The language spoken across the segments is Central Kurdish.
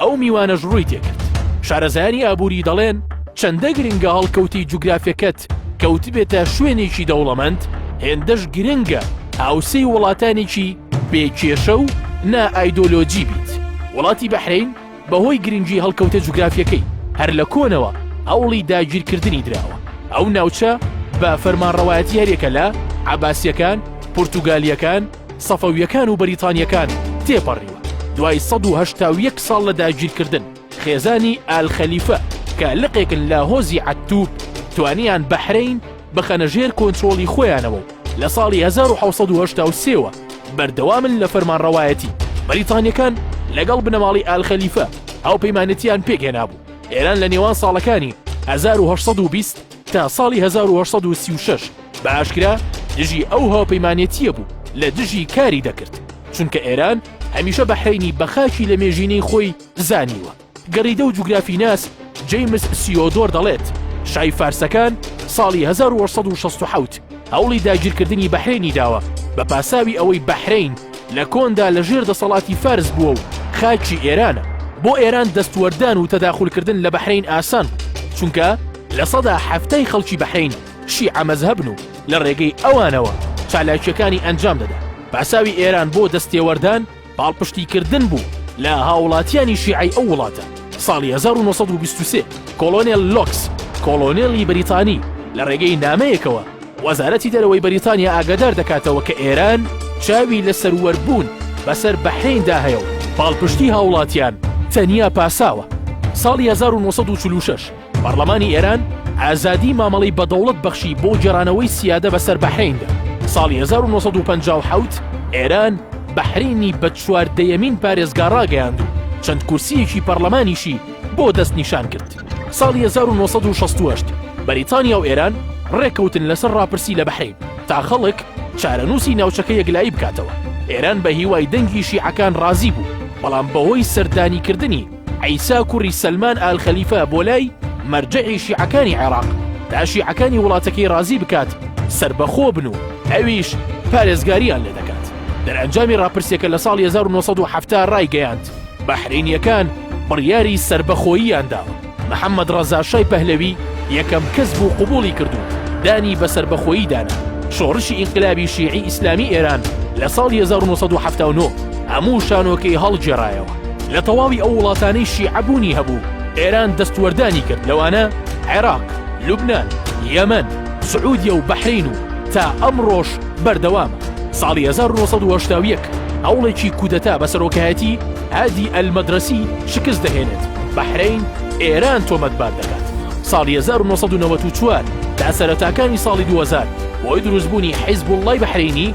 ئەو میوانەش ڕووی تێکرد. شارەزایانی ئابووری دەڵێن، چەندە گرنگە هەڵکەوتەی جوگرافیەکەت کەوتبێتە شوێنێکی دەوڵەمەند، هێندەش گرنگە هاوسێی وڵاتانێکی بێ کێشە و نا ئایدۆلۆجی بیت. وڵاتی بەحرەین بەهۆی گرنگی هەڵکەوتە جوگرافیەکەی، هەر لە کۆنەوە هەوڵی داگیرکردنی دراوە. ئەو ناوچە بە فەرمانڕەوایەتی هەریەکە لە، عەباسیەکان، پورتوگالیەکان، سەفەویەکان و بەریتانیەکان تێپەڕیوە، دوای سەد و هەشتا و یەک ساڵ لە داگیرکردن، خێزانی ئال خەلیفە کە لقێکن لە هۆزی عەتتو، توانیان بەحرەین بخەنە ژێر کۆنترۆڵی خۆیانەوە و لە ساڵی هەزار و حەوت سەد و هەشتا و سێ وە بەردەوامن لە فەرمانڕەوایەتی. بەریتانیەکان لەگەڵ بنەماڵەی ئال خەلیفە هاوپەیمانێتییان پێکهێنابوو، ئێران لە نێوان ساڵەکانی هەزار و هەشت سەد و بیست، تا ساڵی هەزار و هەشت سەد و سی و شەش بە ئاشکرا دژی ئەو هاوپەیمانێتییە بوو لە دژی کاری دەکرد، چونکە ئێران هەمیشە بەحرەینی بە خاکی لە مێژینەی خۆی زانیوە. گەڕیدە و جوگرافیناس جەیمس سیۆدۆر دەڵێت، شای فارسەکان ساڵی هەزار و هەشت سەد و شەست و حەوت هەوڵی داگیرکردنی بەحرەینی داوە بە پاساوی ئەوەی بەحرەین لە کۆندا لە ژێر دەسەڵاتی فارس بووە و خاکی ئێرانە. بۆ ئێران دەستوەردان و تەداخولکردن لە بەحرەین ئاسان بوو، چونکە، لە سەدا حەفتای خەڵکی بەحرەین شیعە مەزهەبن و لە ڕێگەی ئەوانەوە چالاکییەکانی ئەنجام دەدەن. پاساوی ئێران بۆ دەستێوەردان پاڵپشتیکردن بوو لە هاوڵاتیانی شیعەی ئەو وڵاتە. ساڵی هەزار و نۆ سەد و بیست و سێ کۆڵۆنێل لۆکس، کۆڵۆنێڵی بەریتانی لە ڕێگەی نامەیەکەوە وەزارەتی دەرەوەی بەریتانیا ئاگادار دەکاتەوە کە ئێران چاوی لە سەروەربوون بەسەر بەحرەیندا هەیە و پاڵپشتی هاوڵاتیان تەنیا پاساوە. ساڵی هەزار و نۆ سەد و چل و شەش پەڕلەمانی ئێران ئازادی مامەڵەی بە دەوڵەت بەخشی بۆ گێڕانەوەی سیادە بەسەر بەحریندا ساڵی 1957 ئێران بەحرینی بە چوار دەیەمین پارێزگا ڕاگەیاند و چەند کورسیەکی پەرلەمانیشی بۆ دەست نیشان کرد ساڵی 1960 بەریتانیا و ئێران ڕێکەوتن لەسەر ڕاپرسی لە بەحرین تا خەڵک چارەنووسی ناوچەکە یەکلایی بکاتەوە ئێران بە هیوای دەنگی شیعەکان ڕازی بوو بەڵام بەهۆی سەردانیکردنی عیسا کوڕی سەلمان ئال خەلیفە بۆ لای مەرجەعی شیعەکانی عێراق تا شیعەکانی وڵاتەکەی ڕازی بکات سەربەخۆ بن و ئەویش پارێزگاریان لێ دەکات دەرئەنجامی ڕاپرسیەکە لە ساڵی 1970 ڕایگەیاند بەحرینیەکان بڕیاری سەربەخۆییان دا محەممەد ڕەزاشای پەهلەوی یەکەم کەس بوو قوبولی کردو دانی بە سەربەخۆیی دانا شۆڕشی ئینقلابی شیعی ئیسلامی ئێران لە ساڵ 1970 هەموو شانۆکەی هەڵگێڕایەوە لە تەواوی ئەو وڵاتانەی شیعە بوونی هەبوو ئێران دەستوەردانی کرد لەوانە عێراق، لوبنان، یەمەن، سعودیە و بەحرەین و تا ئەمڕۆش بەردەوامە. ساڵی هەزار و نۆ سەد و هەشتا و یەک هەوڵێکی کودەتا بە سەرۆکایەتی هادی ئەلمەدرەسی شکست دەهێنێت، بەحرەین ئێران تۆمەتبار دەکات. ساڵی هەزار و نۆ سەد و نەوەد و چوار تا سەرەتاکانی ساڵی دوو هەزار بۆی دروستبوونی حیزبوڵڵای بەحرەینی،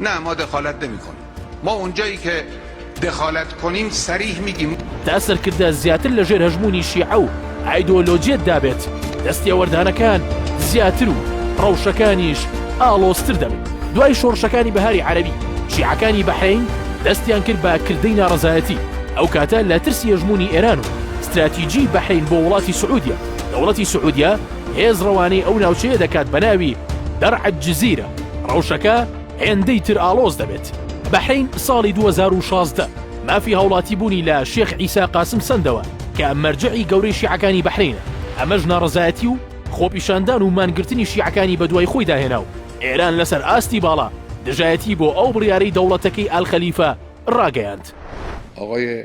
نا ما دخالت نمی کنیم ما اونجایی که دخالت کنیم صریح میگیم. تا سەرکردە زیاتر لە ژێر هەژموونی شیعە و ئایدۆلۆجیەت دابێت، دەستێوەردانەکان زیاتر و ڕەوشەکانیش ئاڵۆزتر دەبن. دوای شۆڕشەکانی بەهاری عەرەبی، شیعەکانی بەحرەین دەستیان کرد بە کردەی ناڕەزایەتی، ئەو کاتە لە ترسی هەژموونی ئێران و ستراتیجیی بەحرەین بۆ وڵاتی سعودیە، دەوڵەتی سعودیە، هێز ڕەوانەی ئەو ناوچەیە دەکات بە ناوی، دەرع الجزیرە، ڕەوشەکە هێندەی تر ئاڵۆز دەبێت. بەحرەین ساڵی دوو هەزار و شازدە مافی هاوڵاتی بوونی لە شێخ عیسا قاسم سەندەوە کە مەرجەعی گەورەی شیعەکانی بەحرەینە، ئەمەش ناڕەزایەتی و خۆپیشاندان و مانگرتنی شیعەکانی بەدوای خۆیدا هێنا و ئێران لەسەر ئاستی باڵا دژایەتی بۆ ئەو بڕیارەی دەوڵەتەکەی ئال خەلیفە ڕاگەیاند. ئاغای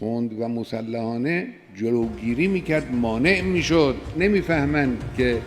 تند و مسلحانه جلوگیری میکرد مانع میشد نمیفهمند که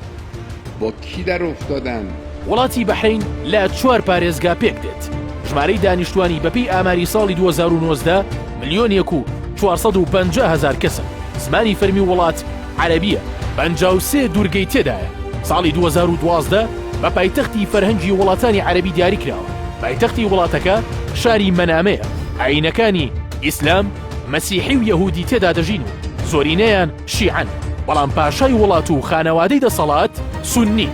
با کی در افتادند. وڵاتی بەحرەین لە چوار پارێزگا پێکدێت، ژمارەی دانیشتووانی بەپێی ئاماری ساڵی دوو هەزار و نۆزدە ملیۆن یەک و چوار سەد و پەنجا هەزار کەسن، زمانی فەرمی وڵات عەرەبییە، پەنجا و سێ دوورگەی تێدایە، ساڵی دوو هەزار و دوازدە بە پایتەختی فەرهەنگی وڵاتانی عەرەبی دیاریکراوە، پایتەختی وڵاتەکە شاری مەنامەیە، ئایینەکانی. ئیسلام، مەسیحی و یەهودی تێدا دەژین و زۆرینەیان شیعەن، بەڵام پاشای وڵات و خانەوادەی دەسەڵات سوننین.